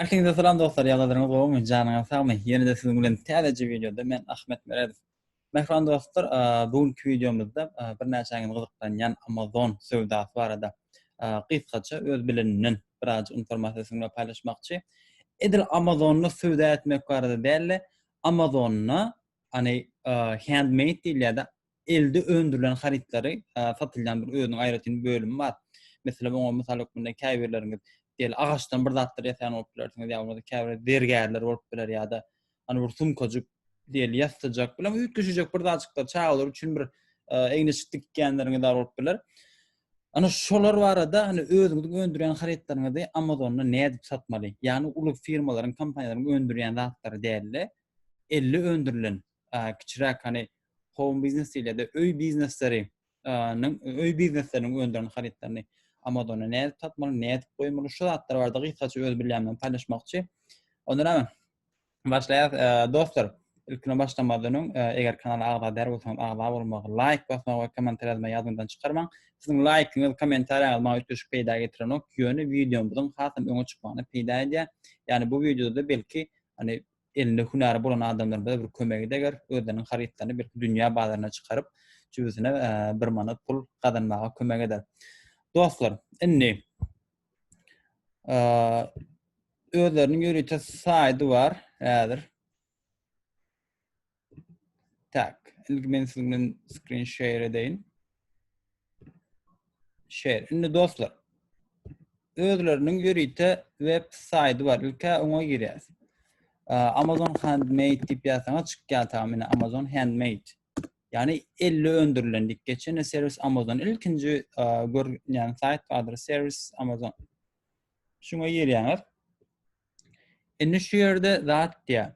Ähliňize salam dostlar, ýagdaýlaryňyz gowumy? Janyňyz sagmy? Ýene-de siziň bilen täzeje wideoda men Ahmet Meredow. Mähriban dostlar, bu günki wideomyzda birnäçäňizi gyzyklanýan Amazon söwdasy barada gysgaça öz bilenimden biraz informasiýa siziň bilen paýlaşmakçy. Edil Amazonda söwda etmek barada däl-de, Amazonda, ýagny handmade diýilýär-de, elde öndürilen harytlary satylýan bir özüniň aýratyn bölümi bar. Meselem, oňa mysal hökmünde käbirleriňiz diýeli agaçdan bir zatlar ýasaýan bolup bilersiňiz, ýa bolmasa käbir zergärler bolup biler ýa-da ony bir sumkajyk diýeli ýassyjak bilen üýtgeşijek bir zatjyklar çagalar üçin bir egniçik dikýänleriňiz bar bolup biler. Ana şolar barada hani özüňiziň öndürýän harytlaryňyzy Amazonda nädip satmaly? Ýagny uly firmalaryň, kompaniýalaryň öndürýän zatlary däl-de, elle öndürilen kiçiräk hani home biznes diýilýär-de, öý biznesleri öý biznesleriniň öndüren harytlaryny Amazona nädip satmaly, nädip goýmaly, şu zatlar barada gysgaça öz bilýänimi paýlaşmakçy. Ondan öň başlaýas. Dostlar, ilkine başlamazdan öň, eger kanala agza däl bolsaňyz, agza bolmagy, laýk basmagy we kommentariýa ýazmagy ýadyňyzdan çykarmaň. Siziň laýkyňyz, kommentariýaňyz maňa üýtgeşik peýda getirenok, ýöne wideomyzyň hasam öňe çykmagyna peýda edýär. Ýagny bu wideoda belki, hani elinde hünäri bolan adamlarymyza bir kömegi deger, özleriniň harytlaryny belki dünýä bazaryna çykaryp, jübüsine bir manat pul gazanmaga kömek eder. Dostlar, indi özleriniň ýörite saýdy bar häzir. Tak, indi men siziň bilen screen share edeýin. Share. Indi dostlar, özleriniň ýörite web saýty bar. Ilki oňa girýäs. Amazon Handmade diýip ýazsaňyz çykýar ta meni Amazon Handmade. Ýani elle öndürilen diýip geçen serwis Amazon. Ilkinji görýän saýt bardyr serwis Amazon. Şuňa girýäňiz. Indi şu ýerde zat diýä.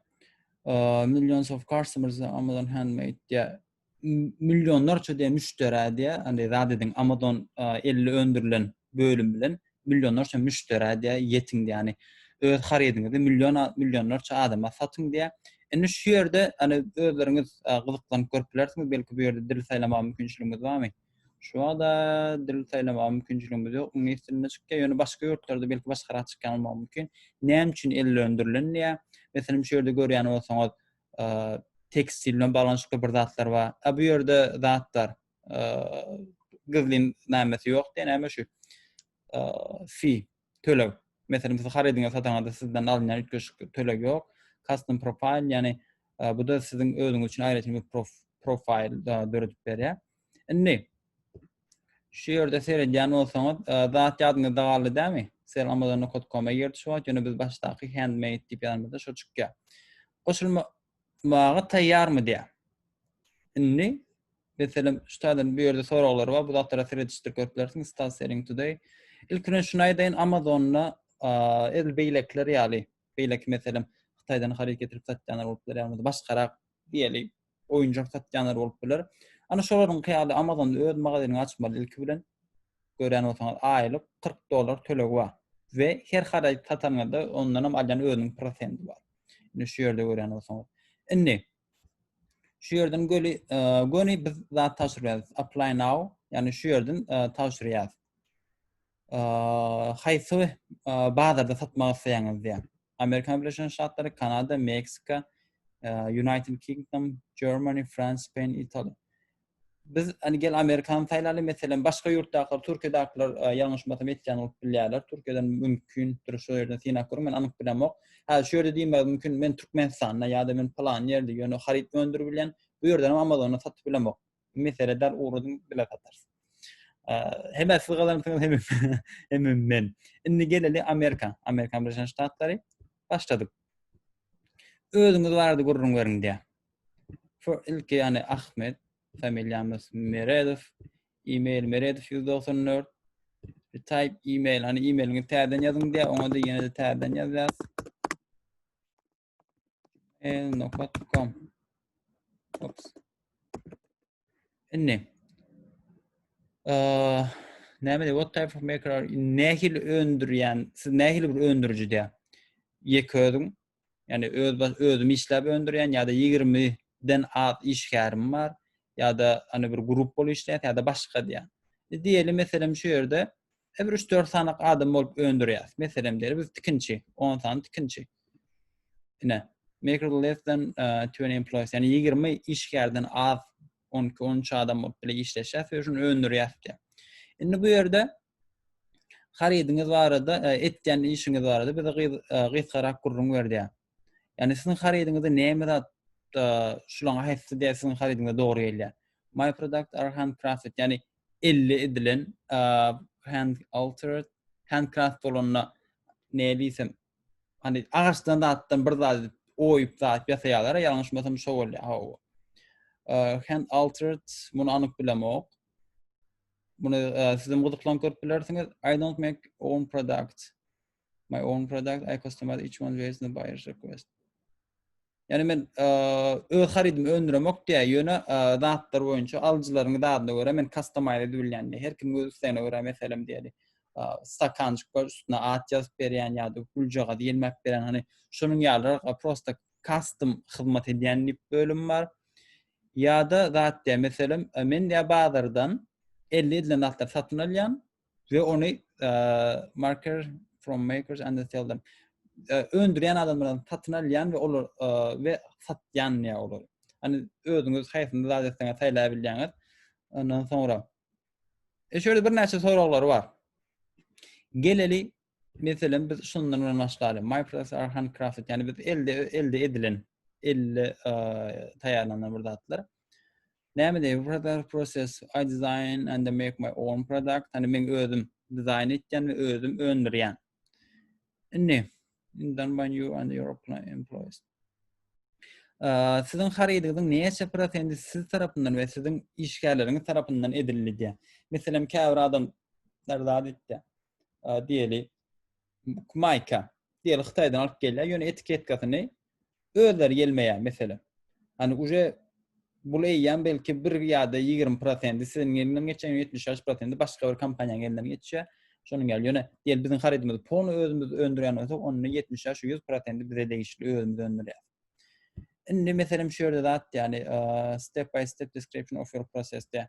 Millions of customers Amazon handmade diýä. Millionlarça diýä müşderä diýä. Indi zat ediň Amazon elli öndürilen bölüm bilen millionlarça müşderä diýä ýetiň diýä. öz harydyňyzy million millionlarça adama satyň diýä. Indi şu ýerde ýöne özleriňiz gyzyklanyp görüp bilersiňiz, belki bu ýerde dil saýlamaga mümkinçiligimiz barmy? Şu wagtda dil saýlamaga mümkinçiligimiz ýok. Iňlis dilinde çykýar, ýöne başga ýurtlarda belki başgarak çykýan bolmagy mümkin. Näme üçin el bilen öndürilen diýýär. Meselem, şu ýerde görýän bolsaňyz, tekstil bilen baglanyşykly bir zatlar bar. A bu ýerde zat bar. Gyzlyn namesi ýok diýen näme şu? Fi. töleg. Meselem, siz harydyňyzy sataňyzda sizden alynýan üýtgeşik töleg ýok. Custom profile, ýagny e, bu da siziň özüňiz üçin aýratyn bir prof, profil e, döredip berýär. Indi şu ýerde seredýän bolsaňyz, e, zat ýadyňyzda galdy dämi? Sel Amazon.com-a girdi şu wagt, ýöne biz başdaky handmade diýip ýazanymyzda şu çykýar. Goşulma Maňa taýýarmy diýýä. Indi meselem şu taýdan bu ýerde soraglar bar. Bu zatlara seredişdir görüp bilersiň. Stat selling today. Ilk bilen şuny aýdaýyn, Amazonda edil beýlekiler ýaly, beýleki meselem Hytaýdan haryt getirip satýanlar bolup biler, ýa-da başgarak diýeli oýunjak satýanlar bolup biler. Ana şolaryň ýaly Amazonda öz magazynyňy açmaly ilki bilen. Görýän bolsaňyz, aýlyk 40 dollar tölegi bar. We her haryt satanyňyzda ondan hem alýan özüniň prosendi bar. Indi şu ýerde görýän bolsaňyz. Indi şu ýerden göli e, göni biz zat taşyrýas. Apply now. Ýani şu ýerden e, taşyrýas. E, haýsy bazarda satmak isleýäňiz diýen. Amerikan Birleşen Ştatlary, Kanada, Meksika, United Kingdom, Germany, France, Spain, Italy. biz hani gel Amerikan saýlaly meselem başga ýurtdaky Türkiýedakylar e, ýalňyşmasam etýän bolup bilýärler. Türkiýeden mümkin dur şu ýerden synap görüň men anyk bilemok. ok. Häzir şu ýerde diýmek mümkin men Türkmenistanda ýa-da men plan ýerde ýöne haryt öndürip bilýän. Bu ýerden Amazonda satyp bilemok. Mesele däl ugrudym bile satarys. E, hem siz gazanarsyňyz hem hem men. Indi geleli Amerika, Amerikan Birleşen Ştatlary başladyk. Özüňiz barada gürrüň beriň diýär. Şu ilki ýany Ahmet, familiýamyz Meredow, e-mail meredow 194 type e-mail, hani e-mailiňi täzeden ýazyň diýär, oňa da ýene-de täzeden ýazýas. el.com Ops. Indi näme diýip what type of maker are nähil öndürýän siz nähil bir öndüriji diýär ýek özüň ýani öz özüm işläp öndürýän ýa-da 20 den az işgärim bar ýa-da ýani bir grup bolup işleýär ýa-da başga diýär e, diýeli meselem şu ýerde Her bir üç-dört sanak adam bolup öndürýäs. Meselem diýeli biz tikinçi, 10 sany tikinçi. Ine, make less than uh, 20 employees, yani 20 işgärden az 12-13 adam bolup bile işleşýäs we şuny öndürýäs diýýär. Indi bu ýerde harydyňyz barada, e, etýän işiňiz barada bize e, gysgarak gürrüň ber diýýär. Yani sizin haridinizde neymi zat şulaň aýtdy diýip sizin harydyňyza dogry gelýär. My product are handcrafted, ýagny elli edilen hand altered, handcraft bolanda ne diýsem, hani agaçdan zatdan bir zat oýup zat ýasaýarlar, ýalňyşmasam şo bolýar. Hawa. Hand altered muny anyk bilemok. Muny sizem gyzyklan görüp bilersiňiz. I don't make own product. my own product, I customize each one based on the buyer's request. Yani men e, öz harydymy öndüremok diýä, ýöne e, zatlar boýunça alyjylaryň zadyna görä men customize edip bilýän. Her kim öz islegine görä meselem diýeli. E, stakanjyk bar, üstüne at ýazyp berýän ýa-da güljaga diýilmek berýän. Hani şonuň ýaly e, prosta custom hyzmat edýän diýip bölüm bar. Ýa-da zat diýä, meselem, e, men diýä bazardan 50 edilen zatlar satyn alýan, we ony marker from makers and sell them öndürýän adamlardan satyn alýan we olar we satýan ýa olar. Hani özüňiz haýsyny zat etseňiz saýlap bilýäňiz. Ondan soňra. E şöyle bir näçe soraglar bar. Geleli Meselem biz şundan bilen başlaýly. My products are handcrafted. Yani biz elde elde edilen, elde taýýarlanan bir zatlar. Näme diýip product process I design and I make my own product. Yani men özüm dizaýn etýän we özüm öndürýän. Indi done by you and your employees. Siziň harydyňyzyň näçe prosenti siz tarapyndan we siziň işgärleriňiz tarapyndan edildi diýýär. Meselem, käbir adam zat etdi. diýeli maýka diýeli Hytaýdan alyp gelýär. Ýöne etiketkasyny özleri gelmeýär mesele. Hani uje bul eýýäm belki bir ýa-da 20% siziň elinden geçýän 70-80% başga bir kompaniýanyň elinden geçýär. Şonuň ýaly ýöne diýeli biziň harydymyzy pony özümiz öndürýän bolsak, onda 70-100% bize degişli özümiz öndürýär. Indi meselem şu ýerde zat, ýani step by step description of your process diýär.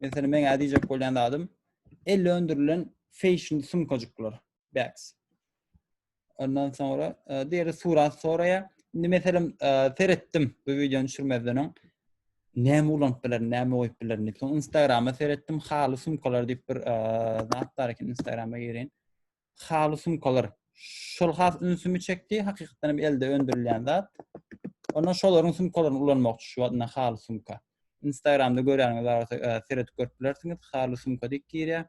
Mesela men ädi jek bolýan adam elle öndürilen fashion sumkajyklar, bags. Ondan sonra e, diýeri surat soraýa. Indi meselem e, seretdim bu wideony düşürmezden öň. Näme ulanyp bilerin, näme goýup bilerin diýip. Soň Instagrama seretdim, haly sumkalar diýip bir e, zat bar eken Instagrama girin. Haly sumkalar şol has ünsümi çekdi. Hakykatdan hem elde öndürilýän zat. Ondan şolaryň sumkalaryny ulanmakçy şu wagt haly sumka. Instagramda görýäniňiz barada e, seredip görüp bilersiňiz. Haly sumka diýip girýär.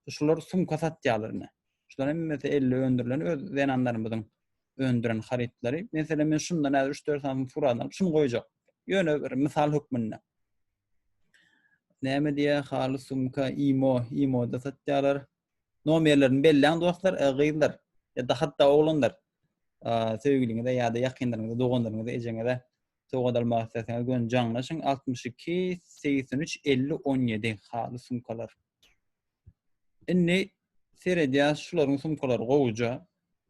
Şular sumka satýarlar ine. Şular hemmesi elde öndürilen öz zenanlarymyzyň öndüren harytlary. Meselem men şundan häzir 3-4 sany surat alyp şuny goýjak. Ýöne bir mysal hökmünde. Näme diýýär? Haly sumka imo, imo-da satýarlar. Nomerlerini belläň dostlar, e, gyzlar. Ya da hatda oglanlar. Söýgüliňize ya da ýakynlaryňyza, doganlaryňyza, ejeňize sowgat almak isleseňiz göni jaňlaşyň 62 83 50 17 haly sumkalar. Indi seredýäs şularyň sumkalary gowuja.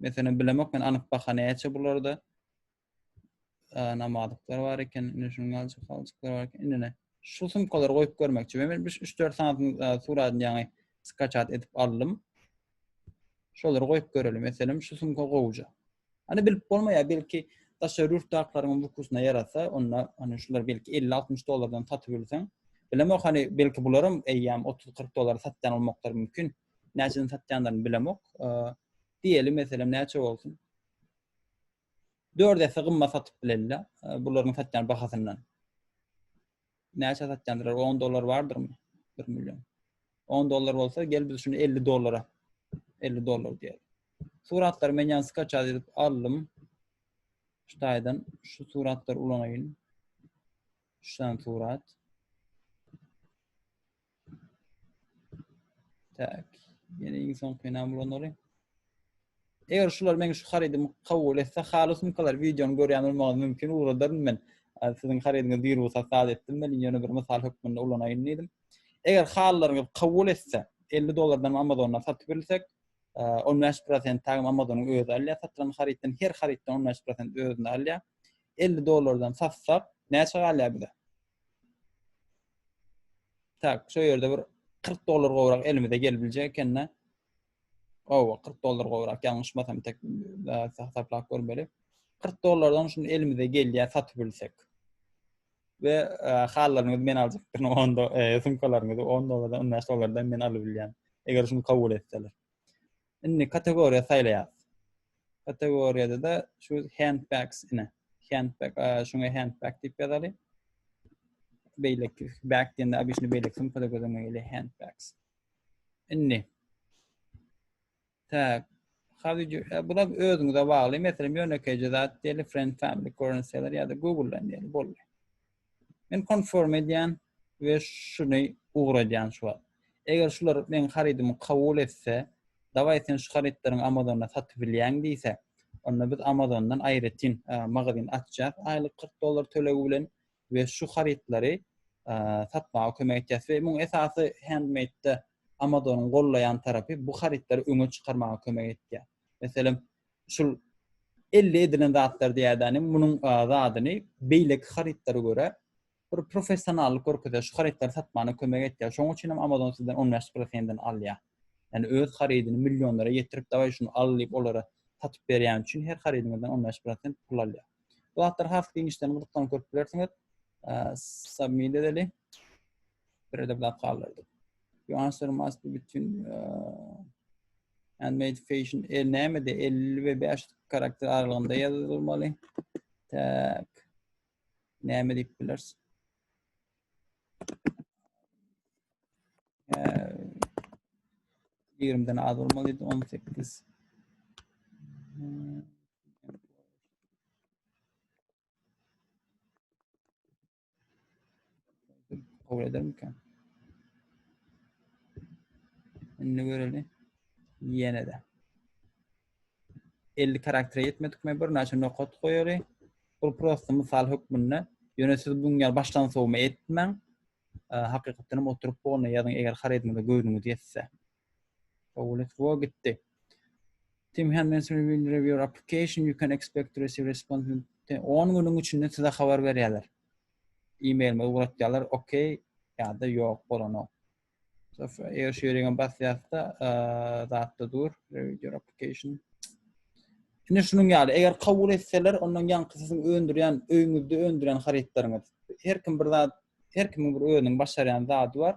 Meselem bilemok men anyk baha näçe bularda. namazlyklar bar eken, indi şunuň galjak galjyklar bar eken. Indi ne? Şu sumkalary goýup görmekçi. Men 3-4 sanatyň suratyny ýaňy skaçat edip aldym. Şolary goýup görelim. Meselem, şu sumka gowja. Hani bilip bolmaýar, belki daşary ýurtdaklaryň bukusuna ýarasa, onda hani şular belki 50-60 dollardan satyp bilseň. Bilemok, hani belki bularam eýýäm 30-40 dollara satýan olmaklar mümkin. Näçeden satýanlaryny bilemok. Diýeli meselem näçe bolsun? 4 esse gymmat satyp bilenler. E, Bularyň satýan bahasyndan. Näçe satýandyr? 10 dollar bardyrmy? 1 million. 10 dollar bolsa, gel biz şunu 50 dollara. 50 dollar diýelim. Suratlar men ýan skaç edip aldım. Şu taýdan şu suratlar ulanaýyn. Şu surat. Tak. Ýene iň soňky näme bolanlary? Eger şular meň şu harydymy kabul etse, haly sumkalar wideony görýän bolmagy mümkin, ugradaryn men. Siziň harydyňyzy bir wagt hasap etdim men, ýöne bir mysal hökmünde ulanaýyn diýdim. Eger halylaryňyz kabul etse, 50 dollardan Amazondan satyp bilsek, 15% tagym Amazonyň özi alýar, satylan harytdan her harytdan 15% özüne alýar. 50 dollardan satsak, näçe galýar bize? Tak, şu yerde bir 40 dolar gowrak elimize gelip biljek ekende. Owa, 40 dolar gowrak, ýalňyşmasam tek hasaplap görmeli. 40 dolardan şunu elimize gelýär satyp bilsek. Ve e, hallaryňyzy men aljakdyryn, 10 dolar, e, sumkalaryňyzy 10 dolardan, 15 dolardan men alyp bilýän. Eger şunu kabul etseler. Indi kategoriýa saýlaýarys. Kategoriýada-da şu handbags ine. Handbag, şuňa handbag diýip ýazaly. Beýleki bag diýende obýşny beýleki sumkada gözüňe gelýär handbags. Indi. Tak. Howdy you? E, bu da özüňize bagly. Meselem, ýönekeýje zat diýeli, friend, family, current seller ýa-da Google-dan diýeli boldy. Men konform edýän we şuny ugradýan şu wagt. Eger şular meň harydymy kabul etse, dawaý sen şu harytlaryňy Amazonda satyp bilýäň diýse, onda biz Amazondan aýratyn magazin açýas aýlyk kyrk dollar tölegi bilen we şu harytlary satmaga kömek etýäs we muň esasy handmade-de Amazonyň gollaýan tarapy bu harytlary öňe çykarmaga kömek etýär. Meselem, şul elde edilen zatlar diýädänem munuň zadyny beýleki harytlara görä bir professionallyk görkezýär. Şu harytlary satmana kömek etýär. Şonuň üçin hem Amazon sizden 15 prosentini alýar. Ýani öz harydyny millionlara ýetirip, dawaý şuny al diýip olara satyp berýän üçin her harydyňyzdan 15 prosent pul alýar. Bu zatlar has giňişden gyzyklanyp görüp bilersiňiz. Submit edeli. Bir edip lap kaldyrdyk. You answer must be between uh, and made fashion el näme de 50 ve 5 karakter aralygynda ýazylmaly. Tak. Näme diýip bilersiň? Yirmiden az olmalıydı. On sekiz. Kabul eder miken? Indi göreli. Ýene de. 50 karaktere ýetmedik mi? Bir näçe nokat goýaly. Bu prosta mysal hökmünde. Ýöne siz bu ýer başdan sowma etmäň. Hakykatdan hem oturyp bolna ýazyň eger harydyňyza göwnüňiz ýetse. Oh, let's go gitdi. Tim Henman will review your application. You can expect to receive response in 10 günüň içinde size habar berýärler. E-mailime ugratýarlar, okey ýa-da ýok bolanok. So, eger şu ýeriňe basýarsa, zatda dur, review your application. Şimdi şunun ýaly, eger kabul etseler, ondan ýaňky siziň öndürýän, öýüňizde öndürýän harytlaryňyz. Her kim bir zat, her kimiň bir özüniň başarýan zady bar.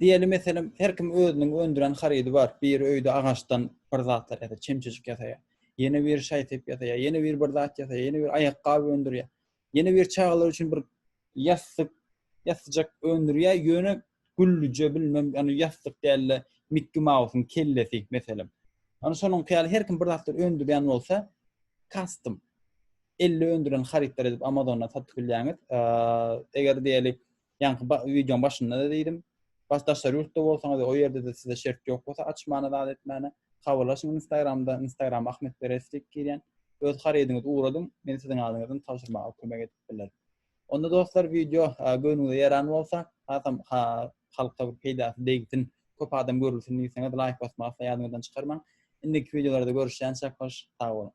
Diýeli meselem her kim özüniň öndüren harydy bar. Biri öýde agaçdan bir zatlar ýasa, çemçejik ýasaýar. Ýene biri şaý-sep ýasaýar, ýene biri bir zat ýasaýar, ýene biri aýakgap öndürýär. Ýene biri çagalar üçin bir ýassyk, ýassjak öndürýär, ýöne güllüje bilmem ýagny ýassyk däl-de Mikki Mausyň kellesi meselem. Ýagny şonuňky ýaly her kim bir zatlar öndürýän bolsa custom. elle öndüren harytlar edip Amazondan satyp bilýäňiz. Eger diýeli, ýaňky wideoň başynda da diýdim, bas daşary ýurtda bolsaňyz, o ýerde de size şert ýok bolsa, açmana zat etmäne, habarlaşyň Instagramda, Instagram Ahmet Berestik girýän, öz harydyňyzy ugradyň, men siziň adyňyzdan tabşyrmaga kömek edip bilerin. Onda dostlar wideo göwnüňize ýaran bolsa, hasam halka bir peýdasy degsin, köp adam görülsin diýseňiz laýk basmagy asla ýadyňyzdan çykarmaň. Indiki wideolarda görüşýänçäk hoş, sag boluň.